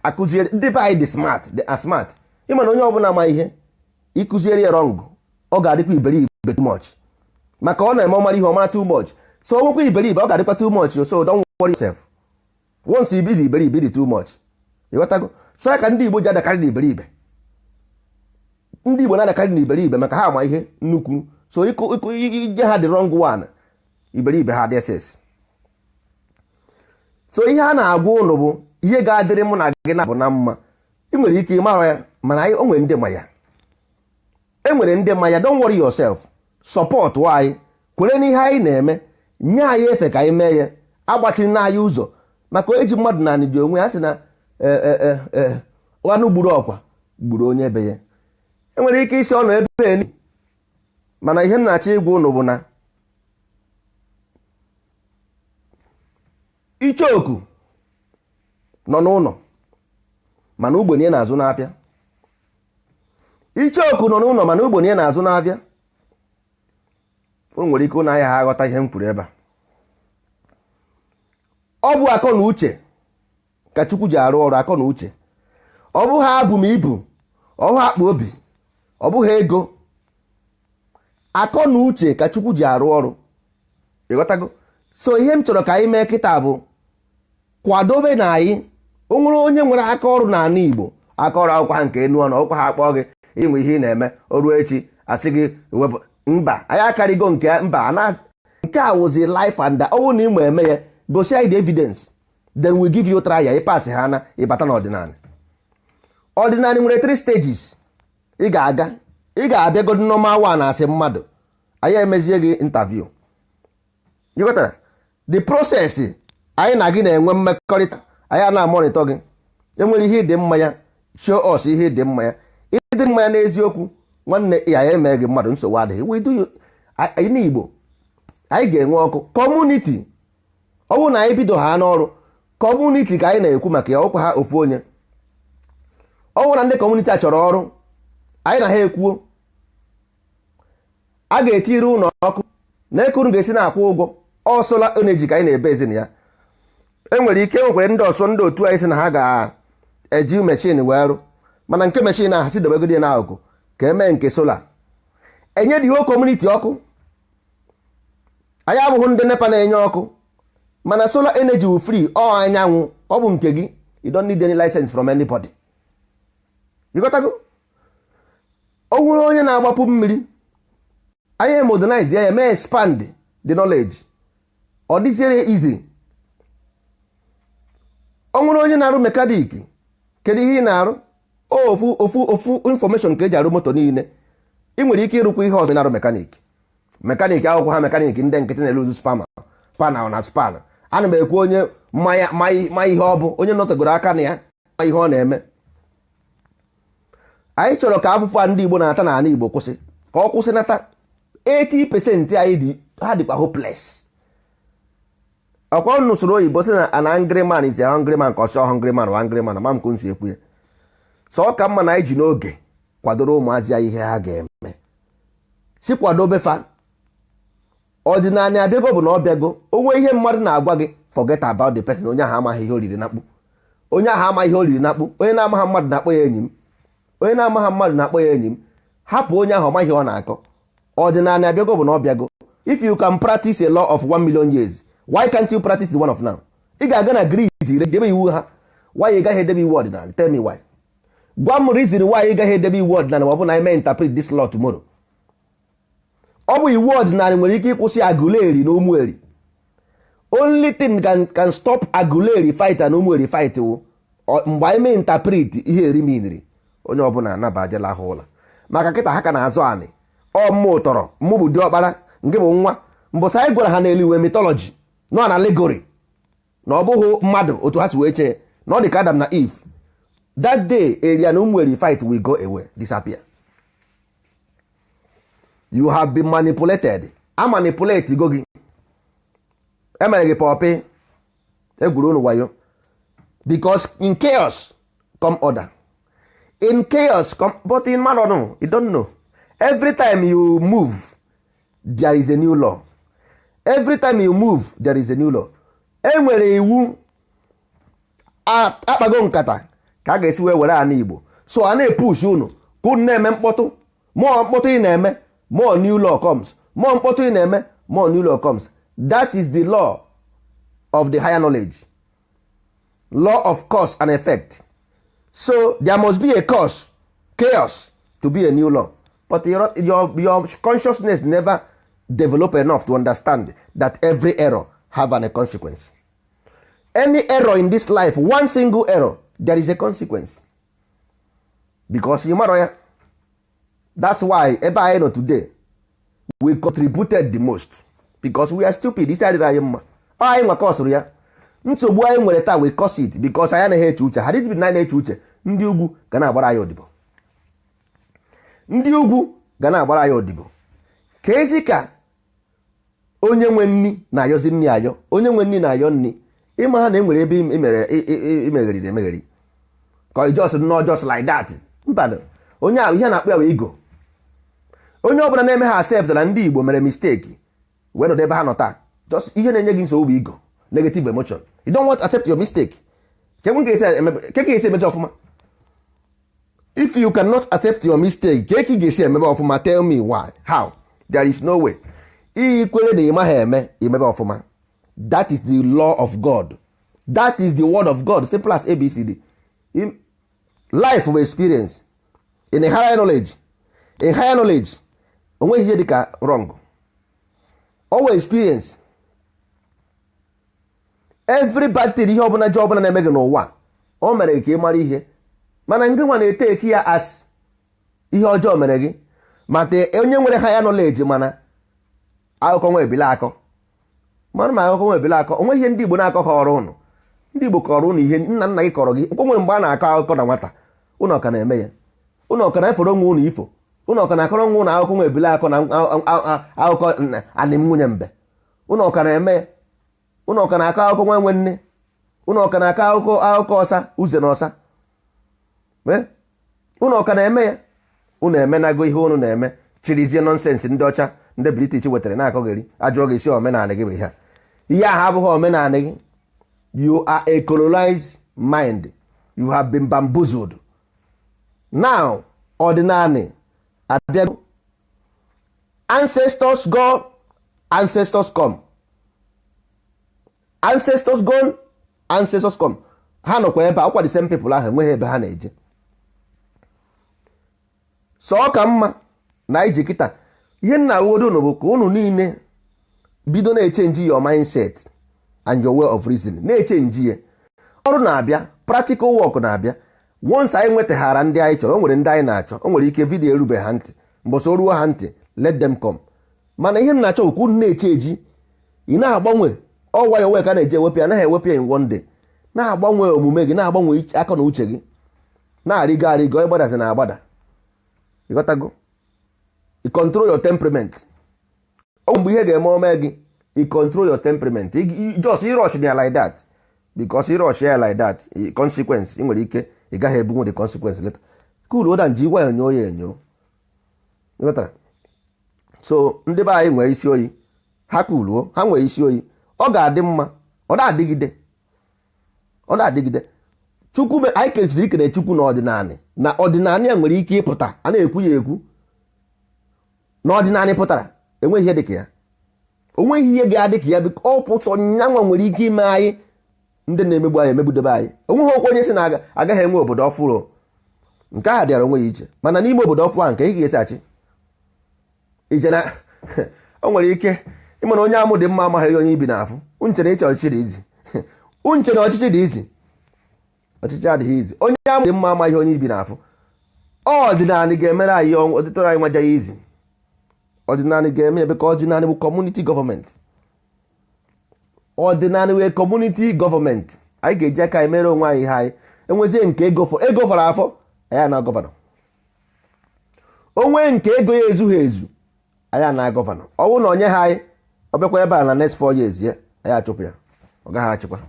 akụziere ndị be anyị dị smart they are smart ị ma na onye ọbụla ma ihe ị kụziere ya wrong ọ ga-adịkwa iberibe too much maka ọ na-eme ọ mara ihe ọ mara too much so o nwekwa iberibe ọ ga-adịkwa too much so don't worry yourself once i bido iberibe dị too much ị ghọtago so ya ka ndị Igbo ji adakarị na iberibe ndị Igbo na-adakarị na iberibe maka ha ma ihe nnukwu so ị kụziere ha the wrong one iberibe ha dss so ihe a na-agwa ụnụ bụ ihe ga-adịrị mụ na gị na bụ na mma ị nwere ike ịmara ya mana anyị o nwere ndị ma ya e nwere ndị ma ya don't worry yourself support anyị kwere n'ihe anyị na-eme nye anyị efe ka anyị mee ya agbachirina anyị ụzọ maka onye ji mmadụ n'ani ji onwe ya a sị na e, e, e, anụ gburu ọkwa gburu onye be ya enwere ike isi ọnụ ebe eni mana ihe m na-achọ ịgwa ụnụ bụ na icheoku nọ n'ụnọ mana ugbene ya na-azụ n'afịa icheoku nọ n'ụnọ mana ugbene ya na-azụ n'afịa o nwere ike ụnụ ayaha aghọta ihe m kwuru ebe a ọ bụ akọ na uche ka chukwu ji arụ ọrụ akọ na uche ọ bụha ebu m ibu ọ bụha akpa obi ọ bụha ego akọ na uche ka chukwu ji arụ ọrụ ịghọtago so ihe m chọrọ ka anyị mee kịta bụ kwadobe na anyị o nwere onye nwere aka ọrụ n'ana Igbo aka ọrụ awụkwaha nke enu ọnụ ọkwaha akpọọ gị i nwee ihe ị na-eme o ruo echi asị gị wepụ mba anyị akarịgo nke mba nke a wụzi life and ọ wụ na ị ma eme ya gosi anyị the evidence then we give you trial ịpasị ha na ịbata n'ọdịnanị ọdịnanị nwere three stages ị ga-aga ị ga-abịagodi normal one asị mmadụ anyị emezie gị interview ịghọtara the process anyị na gị na-enwe mmekọrịta anyị ana-amonitor gị i nwere ihe ị dị mma ya show us ihe ị dị mma ya ị dị mma ya n'eziokwu nwanne a ya-eme gị mmadụ nsogbu adịghị we do you anyị na igbo anyị ga-enwe ọkụ community ọ bụrụ na anyị bido ha n'ọrụ community ka anyị na-ekwu maka ya ọkwaha ofu onye ọ bụrụ na ndị community a chọrọ ọrụ anyị na ha ekwuo a ga-etiri ụnụ ọkụ na ekuru ga-esi na-akwụ ụgwọ ọ solar energy ka anyị na-ebase na ya enwere ike nwekwere ndị ọzọ ndị otu anyị sị na ha ga-eji machine wee rụ mana nke machine ahụ sị dobegodi ya n'akụkụ ka emee nke solar enye the whole community ọkụ anyị abụghị ndị nepa na-enye ọkụ mana solar energy wụ free ọ anyanwụ ọ bụ nke gị you don't need any license from anybody. ịghọtago o nwere onye na-agbapụ mmiri anyị modernize ya mee expand the knowledge ọ dịziere easy o nwere onye na-arụ mekanik kedu ihe ị na-arụ ofu ofu ofu information ka eji arụ moto niile ị nwere ike ịrụkwa ihe ọzọ na-arụ mekanik mekanik awụkwaha mekanik ndị nkịtị na-eluzu spanner panel na spanner ana m ekwu onye ma ihe ọ bụ onye nọtegoro aka na ya ma ihe ọ na-eme anyị chọrọ ka afụfụ a ndị Igbo na-ata n'anị Igbo kwụsị ka ọ kwụsịnata 80 pesenti anyị dị ha dịkwa hopeless ọkwa onye sụrụ oyibo sị na an angry man is a hungry man ka ọ sị hungry man wụ angry man ma m ka o si ekwu ya so ọ ka mma na anyị ji n'oge kwadoro ụmụazị a ihe ha ga-eme si kwadobe fa ọdịnanị abịago bụ na ọ bịago o nwee ihe mmadụ na-agwa gị forget about the person onye ahụ amaghị ihe oriri na-akpụ onye ahụ amaghị ihe oriri na-akpụ onye na-amaghị mmadụ na-akpọ ya enyi m onye na-amaghị mmadụ na-akpọ ya enyi m hapụ onye ahụ ọ maghị ọ na-akọ ọdịnanị abịago bụ na ọ bịago if you can practice a law of 1 million years why can't you practice the one of now ị ga-aga na Greece ire debe iwu ha why ị gaghị edebe iwu ọdịnanị tell me why gwa m reason why ị gaghị edebe iwu ọdịnanị ma ọ bụ na ị mee interpret this law tomorrow ọ bụ iwu ọdịnanị nwere ike ịkwụsị Aguleri na Ụmụeri only thing can, can stop Aguleri fight na Ụmụeri fight wụ mgbe anyị mee interpret ihe Eri meanrị onye ọbụla anaba je lahụ ụla maka kịta ha ka na-azọ anị ọ mụ tọrọ mụ bụ diọkpara ngị bụ nwa mbọsị anyị gwara ha na Eri wụ mythology na ọ an allegory na ọ bụghị mmadụ otu ha si wee chee na ọ dị ka Adam na Eve that day Eri na Ụmụeri fight will go away disappear you have been manipulated a manipulate go gị emere gị pọpị egwuru unu wayo because in chaos come order in chaos come but in man no you don't know every time you move there is a new law every time you move there is a new law enwere iwu akpago nkata ka a ga-esi wee were ana Igbo so a na-epush unu ka unu na-eme mkpọtụ more mkpọtụ ị na-eme more new law comes more mkpọtụ ị na-eme more new law comes that is the law of the higher knowledge law of cause and effect so there must be a cause chaos to be a new law but your, your, your consciousness never develop enough to understand that every error have a consequence any error in this life one single error there is a consequence because ị marọ ya that's why ebe anyị nọ today we contributed the most because we are stupid isi adịrọ anyị mma ọ anyị nwa kọsụrụ ya nsogbu anyị nwere taa we cause it because anyị anaghị eche uche had it been na na-eche uche ndị ugwu ga na-agbara anyị odibo ndị ugwu ga na-agbara anyị odibo keezi ka onye nwe nni na-ayọzi nni ayọ onye nwe nni na-ayọ nni ị maha na e nwere ebe i megheriri emegheri ka just nọ just like that mba onye ahụ ihe na-akpụ ya wụ ego onye ọbụla na-emeha accept na ndị Igbo mere mistake wee nọdụ ebe ha nọ taa just ihe na-enye gị nsogbu bụ ego negative emotion you don't want to accept your mistake kee ka e si emezi ọfụma if you cannot accept your mistake kee ka ị ga-esi emebe ọfụma tell me why how there is no way i kwere na ị maha eme i mebe ọfụma that is the law of god that is the word of god simple as abcd life of experience in a higher knowledge in higher knowledge o nweghị ihe dịka wrong always experience every bad thing ihe ọbụla ji ọbụla na-eme gị n'ụwa o mere gị ka ị mara ihe mana ngịnwa na-eteki ya as ihe ọjọọ mere gị mata onye nwere higher knowledge mana akụkọ nwa ebile akọ mara ma akụkọ nwa ebile akọ o nwe ihe ndị Igbo na-akọ ha ọrụ ụnụ ndị Igbo kọrọ ụnụ ihe nna nna gị kọrọ gị o nwere mgbe a na-akọ akụkọ na nwata ụnụ ọ ka na-eme ya ụnụ ọ ka na-efere onwe ụnụ ifo ụnụ ọ ka na-akọrọ nwa ụnụ akụkọ nwa ebile akọ na akụkọ anịm nwunye mbe ụnụ ọ ka na-eme ya ụnụ ọ ka na-akọ akụkọ nwa enwe nne ụnụ ọ ka na-akọ akụkọ ọsa uze na ọsa ụnụ ọ ka na-eme ya ụnụ emenago ihe ụnụ na-eme chirizie nonsense ndị ọcha ndị british wetara na-akọgheri a jụọ gị ị sị omenanị gị bụ ihe a ihe ahụ abụghị omenanị gị you are a colonized mind you have been bamboozled now ọdịnanị abịago ancestors go ancestors come ancestors gone ancestors come ha nọkwa ebe a ọ bụkwa the same people ahụ enweghị ebe ha na-eje so ọ ka mma na i ji kịta ihe m na-agwado unu bụ ka unu niile bido na-echenji your mindset and your way of reasoning na-echenji ya ọrụ na-abịa practical work na-abịa once anyị nwetaghara ndị anyị chọrọ o nwere ndị anyị na-achọ o nwere ike video erube ha ntị mbọsị o ruo ha ntị let them come mana ihe m na-achọ ikwu na-echenji ị na-agbanwe ọ nwayọ nwayọ ka a na-eji ewepụ ya a naghị ewepụ ya in one day na-agbanwe omume gị na-agbanwe akọ na uche gị na-arịgo arịgo ị gbadazina agbada ị ghọtago i control your temperament ọ mgbe ihe ga-eme o mee gị i control your temperament just ị rush ya like that because ị rush ya like that consequence ị nwere ike ị gaghị ebunwu the consequence later kuluo down ji nwayọ nyoo ya enyo so ndị be anyị nwere isi oyi ha kuluo ha nwere isi oyi ọ ga-adị mma ọ na-adịgide ọ na-adịgide chukwu anyị kechiri ikene chukwu na ọdịnanị na ọdịnanị ya nwere ike ịpụta a na-ekwu ya ekwu na ọdịnanị pụtara enweghị ihe dịka ya o nweghị ihe ga-adị ka ya because ọ bụ sọ nyanwa nwere ike ime anyị ndị na-emegbu anyị emegbudebe anyị o nweghị okwu onye sị na a gaghị enwe obodo ọfụrụ nke ahụ dịara onwe ya iche mana n'ime obodo ọfụ ahụ nke ị ga-esi achị i che na o nwere ike ị ma na onye amụ dị mma amaghị onye ibi na-afụ unu chere na ịchị ọchịchị dị easy unu chere na ọchịchị dị easy ọchịchị adịghị easy onye amụ dị mma ama ihe onye ibi na-afụ ọdịnanị ga-emere anyị ọ dịtụrụ anyị nwa ja easy ọdịnanị ga-eme ebe ka ọdịnanị bụ community government ọdịnanị wụ community government anyị ga-eji aka anyị mere onwe anyị ihe anyị enwezie nke ego fọrọ afọ anyị ana gọvanọ o nwee nke ego ya ezughị ezu anyị ana gọvanọ ọ wụ na o nyeha anyị ọ bịakwa ebe a na next four years anyị achụpụ ya ọ gaghị achịkwa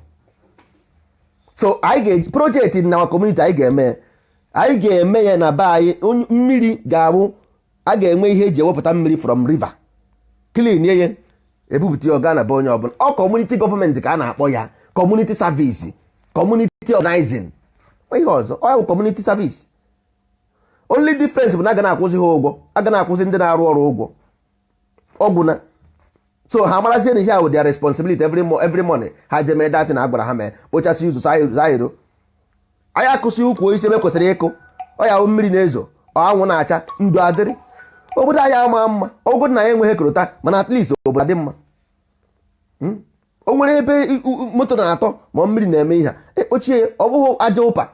so anyị ga-eji project na our community anyị ga-eme ya anyị ga-eme ya na be anyị mmiri ga-abụ a ga-enwe ihe e ji ewepụta mmiri from river cleanie ya ebupụta ya ọ gaa na be onye ọbụla ọ community government ka a na-akpọ ya community service community organizing ihe ọzọ ọ ya bụ community service only difference bụ na a ga na-akwụzi ha ụgwọ a ga na-akwụzi ndị na-arụ ọrụ ụgwọ ọ gwụna so ha marazie na ihe a wụ their responsibility every every morning ha jee mee that thing a gwara ha mee kpochasị ụzọ zaa iro anyị akụsị ukwu osisi ebe kwesịrị ịkụ ọ ya mmiri na-ezo anwụ na-acha ndụ adịrị obodo anyị ama mma ọ godu na anyị enweghị korota mana at least obodo adị mma hmm? o nwere ebe moto na-atọ ma mmiri na-eme ihe ekpochie ọ bụghị aja ụpa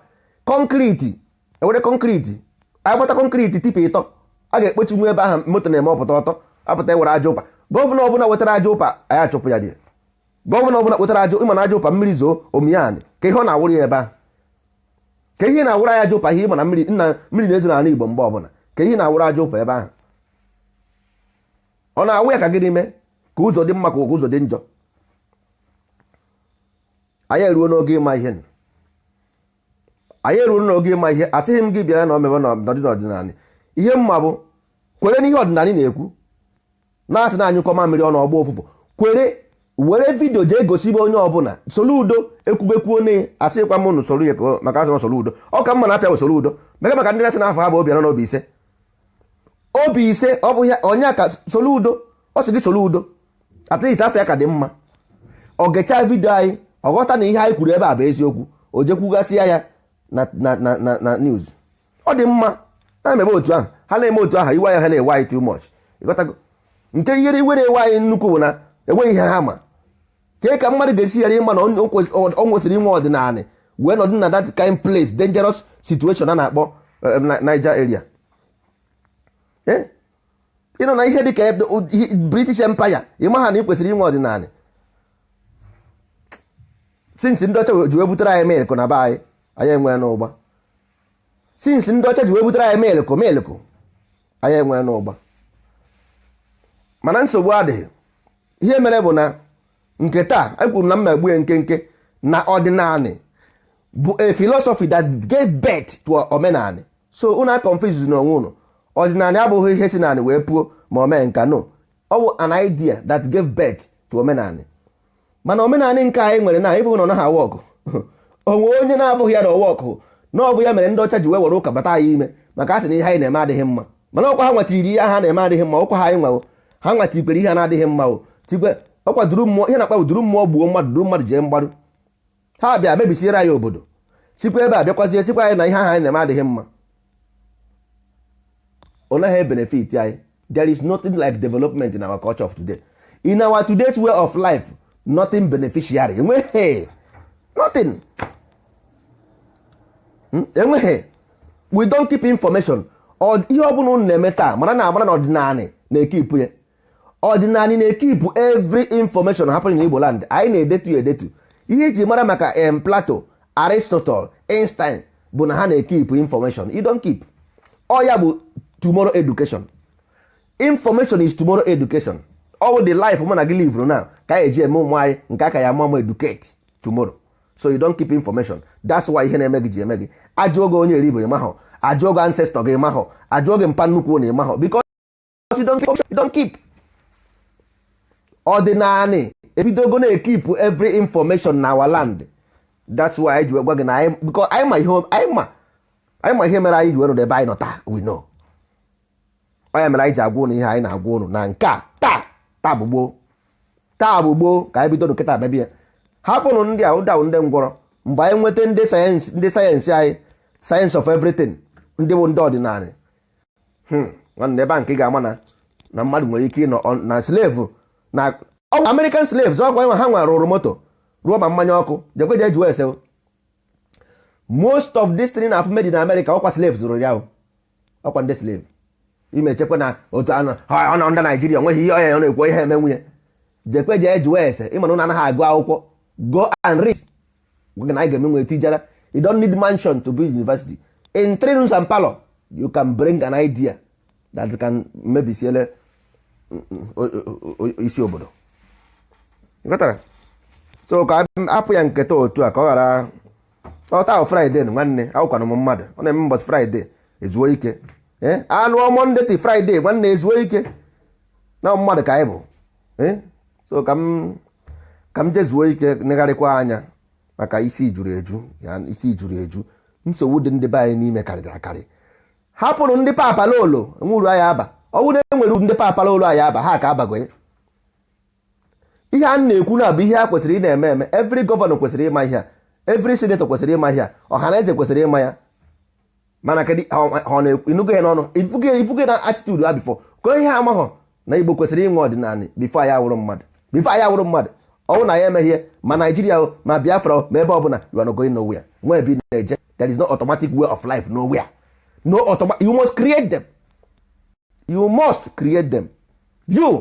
kọnkriti e were kọnkriti ebuta kọnkriti tipa ịtọ a ga-ekpochinwu ebe ahụ moto na-eme ọ pụta ọ tọ a pụta e were aja ụpa gọvanọ ọbụla wetara aja ụpa anyị achụpụ ya dị gọvanọ ọbụla wetara aja ị ma na aja ụpa mmiri zoo ọ mịa anị kee ihe ọ na-awụrụ ya ebe ahụ kee ihe na-awụrụ ya aja ụpa ihe ị ma na mmiri na mmiri na-ezo n'ala Igbo mgbe ọbụla kee ihe na-awụrụ aja ụpa ebe ahụ ọ na-awụ ya ka gịnị mee ka ụzọ dị mma ka ụzọ dị njọ anyị eruona oge ịma ihe anyị eruona oge ịma ihe asịghị m gị bịa na omebe na ọdịnanị ihe m ma bụ kwere n'ihe ọdịnanị na-ekwu na a sị na a nyụkọọ mamịrị ọnụ ọ gbaa ụfụfụ kwere were vidio jee gosibe onye ọbụla Soludo ekwubekwanụ asịkwa m unu soro ya maka a sị Soludo ọ ka mma na afa ya bụ Soludo mega maka ndị na-asị na afa ha bụ Obianọ na obi ise obi ise ọ bụ ya onye ka Soludo ọ sị gị soro udo at least afa ya ka dị mma ọ gechaa vidio anyị ọ ghọta na ihe anyị kwuru ebe a bụ eziokwu o jekwugasịa ya na na na na news ọ dị mma ha na-emebe otu ahụ ha na-eme otu ahụ iwe ha na-ewe anyị too much nke ihere iwe na-ewe anyị nnukwu bụ na e nweghị ihe ha ma kee ka mmadụ ga-esi ghara ịma na o kwesịrị inwe ọdịnanị wee nọdụ na that kind place dangerous situation a na-akpọ eh, Niger area eh? ị nọ na ihe dịka British Empire ị maha na ị kwesịrị inwe ọdịnanị since ndị ọcha ji wee butere anyị milk na be anyị anyị enwee n'ụgba since ndị ọcha ji wee butere anyị milk milk anyị enwee n'ụgba mana nsogbu adịghị ihe mere bụ na nke taa ekwuru na m ga-egbu ya nkenke na ọdịnanị bụ a philosophy that gave birth to omenanị so unu aconfusena onwe unu ọdịnanị abụghị ihe si n'anị wee puo ma o mee nka no ọ bụ an idea that gave birth to omenanị mana omenanị nke anyị nwere na ịbụ na ọ naghị awọkụ o nwe onye na-abụghị ya na ọ wọkụ na ọ bụ ya mere ndị ọcha ji wee were ụka bata anyị ime maka a sị na ihe anyị na-eme adịghị mma mana ọkwa ha nwetiri ihe ha na-eme adịghị mma ọkwa ha anyị nwawo ha nwa tikwere ihe na-adịghị mma o tikwe ọkwa duru mmụọ ihe a na-akpọ duru mmụọ gbuo mmadụ duru mmadụ jee mgbarụ ha bịa mebisiere anyị obodo sikwa ebe a bịakwazie sịkwa anyị na ihe ahụ anyị na-eme adịghị mma ọ naghị ebenefit anyị there is nothing like development in our culture of today in our today's way of life nothing beneficiary enweghị nothing hmm? enweghị we don't keep information ihe ọbụla unu na-eme taa mara na amara na ọdịnanị na-ekipụ ya ọdịnanị na-ekipụ every information happening in Igbo land anyị na-edetu ya edetu ihe e ji mara maka em Plato Aristotle Einstein bụ na ha na-ekipụ information you don't keep ọ ya bụ tomorrow education information is tomorrow education all the life mụ na gị livru now ka anyị eji eme ụmụ anyị nke a ka ya-amụ amụ educate tomorrow so you don't keep information that's why ihe na-eme gị ji eme gị a jụọ gị onye Eri bụ ị mahọ a jụọ gị ancestor gị ị mahọ a jụọ gị mpa nnukwu na ị mahọ because you don't keep, you don't keep. ọdịnanị ebidogo na-ekipụ every information na our land that's why anyị ji gwa gị na anyị ma ihe mere anyị ji wee rue ebe anyị nọ taa we know ọ ya mere anyị ji agwa ụnụ ihe anyị na-agwa ụnụ na nke a taa taa bụ gboo taa bụ gboo ka anyị bido kịta abịabịa hapụnụ ndị a ụdawụ ndị ngwọrọ mgbe anyị nweta ndị sayensị ndị sayensị anyị science of everything ndị bụ ndị ọdịnanị hmm, nwanne ebe a nke ị ga-ama na na mmadụ nwere ike ịnọ na slave na American slaves ọkwa nwa ha nwa rụrụ moto rụọ ma ma anya ọkụ jekwa jee jụọ ese most of this thing na-afụ made in America ọkwa slaves rụrụ ya ọkwa ndị slave ime chekwa na otu unu nọ ndị naijiria nweghị ihe ọ ya ọ na-ekwu ihe eme nwanne jekwa jee jụọ ese ị ma na ụnụ anaghị agụ akwụkwọ go and read gwa gị na anyị ga-eme nwe tijara you don't need mansion to build university in three rooms and parlor you can bring an idea that can mebisiele mm, mm, o- o- o- isi obodo Ị ghọtara? so ka a hapụ ya nke taa otu a ka ọ hara ọ taa wụ fraịde nwanne awụkwanụ m mmadụ ọ na-eme mbọchị fraịde ezuo ike eh? a lụọ mọnde to fraịde nwanne ezuo ike na mmadụ ka anyị bụ eh? so ka m ka m je zuo ike negharịkwa anya maka isi juru eju ya isi juru eju nsogbu dị ndị be anyị n'ime karịrị akarị hapụnụ ndị papalolo nwe uru ha ya-aba ọ wụ na e nwere uru ndị papalolo ya-aba ha ka abago ihe a na-ekwu na bụ ihe a kwesịrị ị na-eme eme every gọvanọ kwesịrị ịma ihe a every senator kwesịrị ịma ihe a ọha na eze kwesịrị ịma ya mana kedu onye ị nụgo ya n'ọnụ ị fụghị na attitude ha bifo ka ha amaghọ na igbo kwesịrị inwe ọdịnala bifo anyị awụrụ mmadụ bifo anyị awụrụ mmadụ ọ wụ na ya emeghị ma naijiria o ma biafra o ma ebe ọbụla you are not going nowhere nwe ebe ị na-eje there is no automatic way of life nowhere no automatic you must create them you must create them you